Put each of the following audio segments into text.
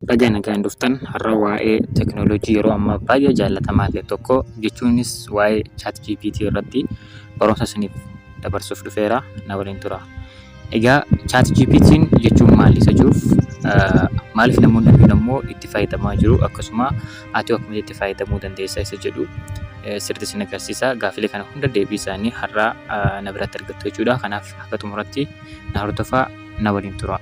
Baga nagaan dhuftan har'a waa'ee teknolojii yeroo ammaa baay'ee jaallatamaa ta'e tokko jechuunis waa'ee chat GPT irratti barumsa isiniif dabarsuuf dhufeera na waliin tura. Egaa chat GPT jechuun maali isa jiruuf maaliif namoonni hedduun ammoo itti fayyadamaa jiru akkasuma ati akkamitti itti fayyadamuu dandeessa isa jedhu sirriitti isin agarsiisa gaafilee kana hunda deebii isaanii har'a na biratti argattu jechuudha kanaaf akka xumuratti na hordofaa na waliin tura.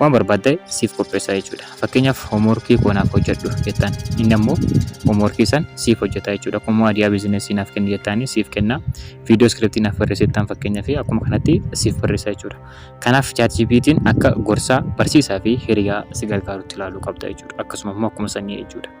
waan barbaadde siif qopheessaa jechuudha. Fakkeenyaaf hoomworkii koo naaf hojjedhu jettaan inni ammoo hoomworkii san siif hojjeta jechuudha. Akkuma adiyaa biizinesii naaf kenni jettaanii siif kenna. Viidiyoo iskiriptii naaf barreessi jettaan fakkeenyaaf akkuma kanatti siif barreessa jechuudha. Kanaaf ChatGPT'n akka gorsaa, barsiisaa fi hiriyaa si gargaarutti ilaaluu qabda jechuudha. Akkasuma immoo akkuma sanii jechuudha.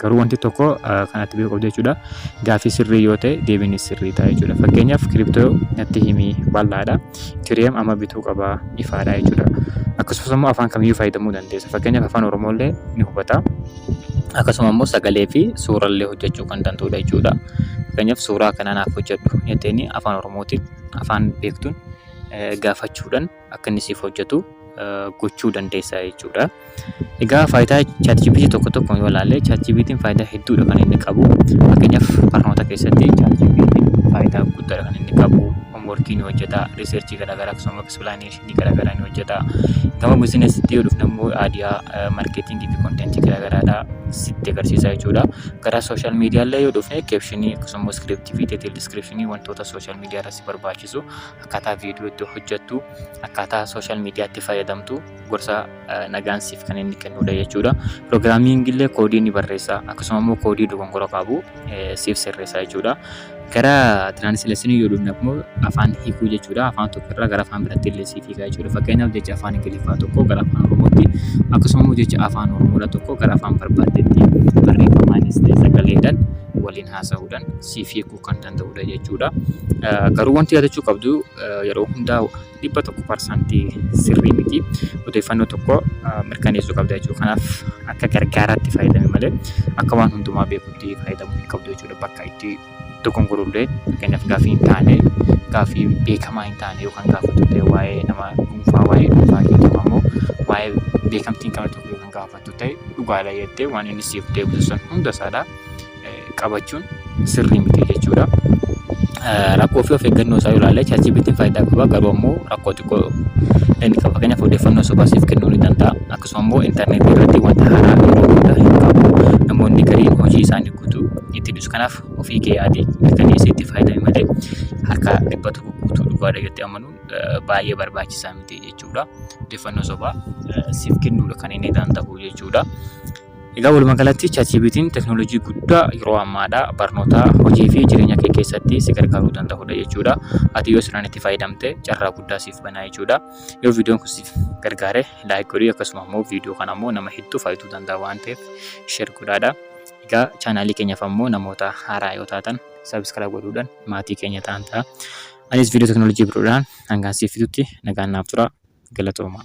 Garuu wanti tokko kan ati beekuu qabdu jechuudha. Gaaffii sirrii yoo ta'e deebiin sirrii ta'a jechuudha. Fakkeenyaaf kiriptoo natti himi bal'aadha. Ethereum amma bituu qaba ifaadha jechuudha. Akkasumas immoo afaan kamiyyuu fayyadamuu dandeessa. Fakkeenyaaf afaan Oromoo illee ni hubata. Akkasuma immoo sagalee fi suura illee hojjechuu kan danda'udha jechuudha. Fakkeenyaaf suuraa kana naaf hojjedhu jetteeni afaan Oromootiin afaan beektuun gaafachuudhaan akka inni siif hojjetu gochuu dandeessa jechuudha. Egaa faayidaa ChatGPT tokko tokkoon yoo ilaalle ChatGPT'n faayidaa hedduudha kan inni qabu. Fakkeenyaaf barnoota keessatti ChatGPT'n faayidaa guddaadha kan inni qabu. Hoomworkii ni hojjeta, riisarchii garaagaraa akkasumas pilaneeshinii garaagaraa ni hojjeta. Gama biizinasiitti yoo dhufne immoo aadiyaa, markeetingii fi konteentii garaagaraadha sitti agarsiisa jechuudha. Gara sooshaal miidiyaallee yoo dhufne keepshinii akkasumas iskiriiptii fi deeteelii iskiriipshinii wantoota sooshaal miidiyaa irratti si barbaachisu akkaataa viidiyoo itti hojjettu akkaataa sooshaal miidiyaatti fayyadamtu gorsa nagaan siif kan inni kennudha jechuudha. Piroogiraamiin illee koodii ni barreessa akkasuma immoo koodii dogongora qabu siif sirreessa jechuudha. Gara tiraansleeshinii yoo dhufne immoo afaan hiikuu jechuudha. Afaan tokko irraa gara afaan biraatti illee siif hiikaa jechuudha. Fakkeenyaaf jecha afaan Ingiliffaa tokko gara afaan Oromootti akkasuma immoo jecha afaan Oromoodha tokko gara afaan barbaaddeetti barreeffamaanis ta'e sagaleedhaan waliin haasa'uudhaan siif hiiku. ta'uu kan danda'udha jechuudha. Garuu wanti yaadachuu qabdu yeroo hundaa dhibba tokko parsantii sirrii miti. Odeeffannoo tokko mirkaneessuu qabda jechuudha. Kanaaf akka gargaaraatti fayyadami malee akka waan hundumaa beekutti fayyadamuu hin qabdu jechuudha. Bakka itti dogongorullee fakkeenyaaf gaaffii hin taane gaaffii beekamaa hin taane yoo kan gaafattu ta'e waa'ee nama dhuunfaa waa'ee dhuunfaa keetii ammoo waa'ee beekamtii hin qabne tokko yoo kan gaafattu ta'e dhugaadha jettee waan inni siif deebisu san hunda isaadha. qabachuun sirrii miti jechuudha. Rakkoo fi of eeggannoo isaa ilaalee ChatGPT faayidaa qaba garuu ammoo rakkoo xiqqoo inni qaba. Fakkeenyaaf odeeffannoo sobaa siif kennuu ni danda'a. Akkasuma immoo intarneetii irratti wanta haaraa yeroo hunda hin qabu. Namoonni gariin hojii isaanii guutuu itti dhiisu. Kanaaf ofii kee yaadii mirkaneessii itti fayyadami malee harka dhibba tokko guutuu dhugaadha jettee amanuun baay'ee barbaachisaa miti jechuudha. Odeeffannoo sobaa siif kennuudha kan inni danda'u jechuudha. Egaa walumaa galatti ChatGPT'n teknoolojii guddaa yeroo ammaadha. Barnootaa, hojii fi jireenya kee keessatti si gargaaruu danda'udha jechuudha. Ati yoo sirnaan itti fayyadamte carraa guddaa siif banaa jechuudha. Yoo viidiyoon kun siif gargaare laayik godhi akkasuma immoo viidiyoo kana immoo nama hedduu fayyaduu danda'a waan ta'eef sheer godhaadha. Egaa chaanaalii keenyaaf ammoo namoota haaraa yoo taatan sabiskiraayib godhuudhaan maatii keenya ta'an ta'a. Anis viidiyoo teknoolojii biroodhaan hangaan siif fidutti nagaan naaf tura. Galatoomaa.